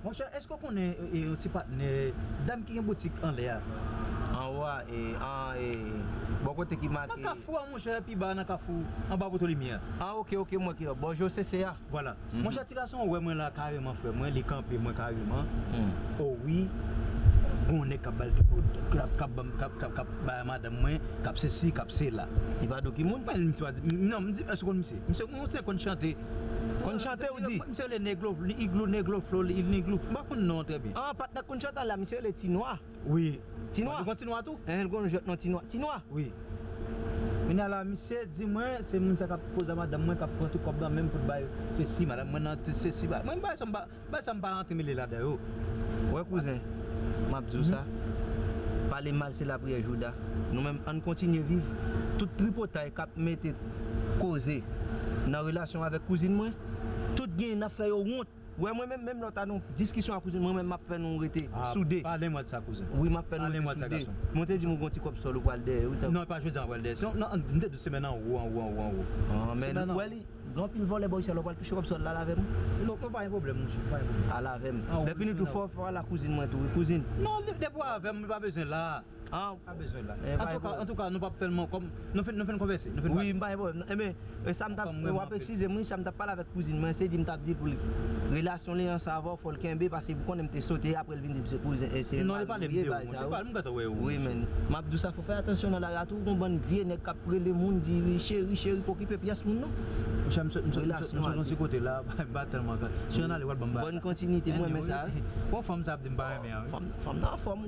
Monchè eske w konnen yon ti patnè dam ki gen boutik anlè a? Anwo a e an e bò kote ki make. Nan kafou a monchè, pi ba a nan kafou, anba poto limyè a. Ah ok ok m wè ki lè, bò josese a? Vwala. Monchè ti gason an wè mwen la kareman frè mwen, li kanpe mwen kareman, o wi gen yon nèg k ap ba l ti kout, k ap k ap banm k ap k ap k ap bay a madanm mwen, k ap sesi, k ap sela. Li pa di w ki moun? Mwen li misye pa di m, non m di èske w konn misye? Misye m wè w se konn chante. Konn chante ou di? Misye rele neglo vl iglou neglo flo l il niglou fl m pa konn non an trè byen. An patnè Kunshant an la misye rele ti nwa wi ti nwa li gon ti nwa tou? Enhen l gon jwèt non ti nwa ti nwa wi kounya la misye di mwen se moun sa kap koz a madanm mwen kap pran tout kòb nan menm pou l bay sesi madanm mwen nan tout sesi bagay mwen bagay sa m pa bagay sa m pa rantre mele ladan yo ou wè kouzen map di w sa pale mal se lapriyè jouda nou menm ann kontinye viv tout tripotay kap mete koze nan relasyon avèk kouzin mwen. Tout gen nap fè yo wont. Wè mwen menm, menm lè w ta nan diskisyon ak kouzen mwen menm map fè nou rete soude. Pale mwen de sa kouzen. Wi map fè nou rete soude. Mwen te di m ou gon ti kòb sòl ou pral dèyè wi tanpri. Non e pa jodi an wap pral dèyè. Sinon nan m te di w se men nan wo an wo an wo an wo. An men ou wè li gen anpil vòlè bò isit la ou pral touche kòb sòl la al avè m. Non pa gen pwoblèm mouche pa gen pwoblèm. Al avè m. Lè fini tou fò w al ak kouzin mwen tou wi kouzin. Non depi w avè m li pa bezwen la. Ah ou pa bezwen la. Antouka nou pap fèl man kòm nou finn konvèse. Wi m pa gen pwoblèm nan. Enben sam tap wap eksizem wi sam tap pale avèk kouzin mwen se li m tap di pou li relasyon li an sa avèw fòl kenbe paske pou konnen m te sote aprè l vin di m se kouzen e se mari m ye bagay sa yo wi men map diw sa fò fè atansyon nan lari a tou gon bann vye nèg kap rele moun di cheri cheri pa okipe pyès moun non relasyon an li Bòn kontinite m renmen sa wi fanm nan anfòm wi.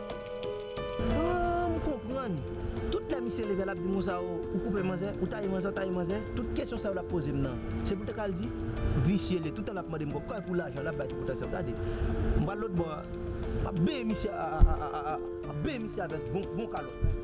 Humm konprann Tout lè misye leve lap di Mousa oo ou koupe manzè ou taye manzè ou taye manzè tout kesyon sa yo lap pozem nan se poul te ka al di visye li toutan lap mandem kob kay pou lajan lap bay ti potansye yo gade m pral lotbò a map benyen misye aaaaa map benyen misye avèk bon kalòt.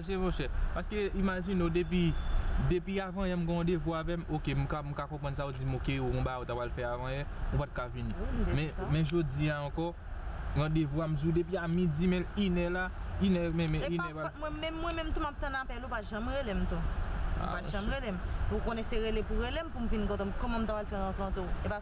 Mèsi monchè. Paske imajine w depi depi avanyè m gen randevou avè m ok m ka m ka konprann sa w di m ok ou gon bagay ou ta pral fè avanyè ou pa t ka vini men men jodi a ankò randevou a m di w depi a midi men l inè la inè men men inè pral Mwen menm mwen menm tou m ap tann apèl ou pa janm rele m tou ou pa janm rele m ou konnen se rele pou rele m pou m vin kote w kòman m ta pral fè rankante w e pa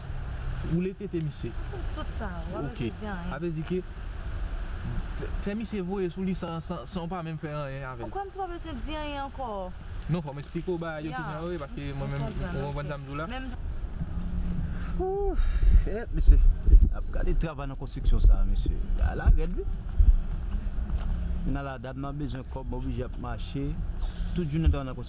Woule tete misye. Tout sa a, wap vle di anyen. Ok. Sa vle di ke fè misye voye sou li san ou pa menm fè anyen avèl. Ou kwè m se pa bezwen di anyen ankò? Non fò m esplike w bagay yo ki nan yo e paske mwen menm ou konprann sa m di w la. Ooh! Eh mesye! Ap gade travay nan konstriksyon sa a mesye. Bagay la rèd wi. Kounye a la dam nan bezwen kòb, oblije ap mache tout jounen travay nan konstriksyon.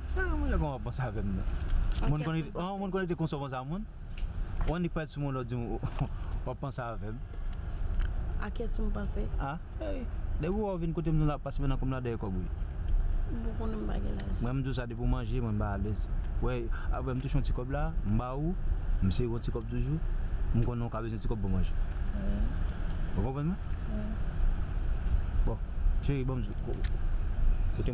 An mwen koman wap panse avèm nan Moun konekte konsa ou panse a moun Ou annik pale sou moun lòt dim wap panse avèm A kiyès poum panse A Depi ou wè ou vin kotem nou la pase mennan kòm la dèyè kòb wi M pou konnen m pa gen lajan Mwen m diw sa depi ou manje mwen m ba alèz Wè aprè m touche yon ti kòb la m ba ou M sere yon ti kòb toujou M konnen ou ka bezwen ti kòb pou manje Ou konprann mwen Bon cheri banm kote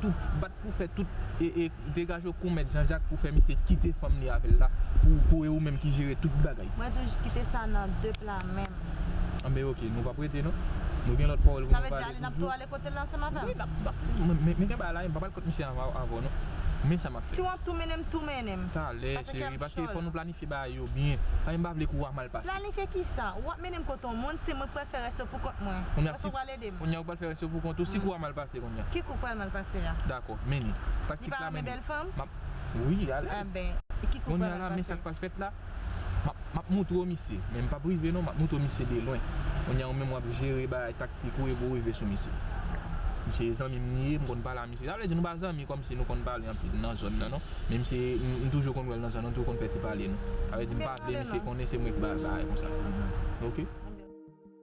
tout bat pou fè tout ee degage w kou mèt janjak pou fè misye kite fanm li avèl la pou pou e ou menm ki jere tout bagay. Mwen di w kite sa nan de pla menm. Anben ok nou pap rete non nou gen lòt pawòl pou nou pale toujou wi nap nap men gen bagay la e m pap al kont misye avan avè w non men sa map fè si w ap tou mennen m tou mennen m talè cheri paske fò nou planifye bagay yo byen paske m pa vle kou a mal pase planifye kisa ou ap mennen m kote yon moun se mwen k pral fè rès yo pou kont mwen kounya si Edem. Kounya ou pral fè rès yo pou kont ou si kou a mal pase kounya. Ki kou k pral mal pase a? Dakò, Meni. Li pa renmen bèl fanm? Map Wi, li alèz. Anben, ki kou k pral mal pase? Kounya la, men sa k pral fèt la, map, map moutre w misye, men m pap rive non, map moutre w misye de lwen. Kounya ou menm w ap jere bagay taktik ou epi w rive sou misye. Misye e zanmi m li ye, m konn pale a misye. Sa vle di nou pa zanmi kòmsi nou konn pale anpil nan zòn nan non. Men misye, m toujou konn wè l nan zòn nan, m toujou konn fè ti pale nou. Sa vle di m pa vle misye konnen se mwen ki ba l bagay konsa. Ok.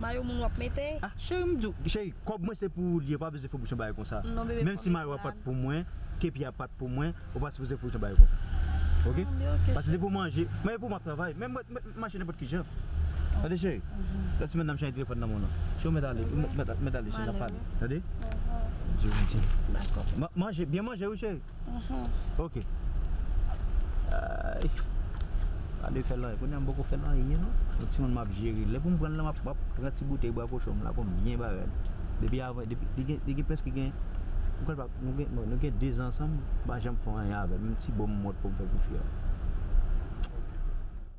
Mayo moun wap mete. Ah cheri m diw cheri kòb mwen se pou ou li ye ou pa bezwen fè bouchon bagay konsa menm si mayo a pat pou mwen kepi a pat pou mwen ou pa sipoze fè bouchon bagay konsa ok pase depi ou manje mayo pou ou map travay menm mwen t mache nenpòt kijan tande cheri lòt semèn nan m chanje telefòn nan mwen non cheri ou mèt ale ou mèt ale cheri nap pale tande manje byen manje wi cheri. Ok Ayy Gade fèl anyen Kounya m poko fèl anyen non Yon timoun map jere Lè poum pranl la map pran ti boutèy bwa kochon m la poum byen bare l Depi avan li gen prèske gen M kwèl pap Nou gen 2 zan ansanm m pa janm fè anyen avèl Menm ti bonm m wont poum fè pou fi a.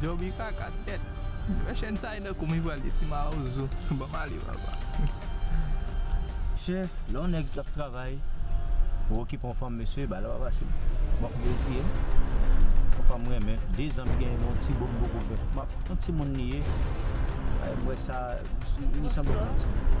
Djoby kaka tèt. Wè chèn sa e nan koum li pral ye ti mawozo banm ale papa. Mesye lè yon nèg ap travay pou okipe yon fanm mesye bagay la pa fasil wap reziye yon fanm m renmen 2 zan m genyen yon ti bonm poko fèt map yon timoun li ye m wè sa li sanble yon timoun.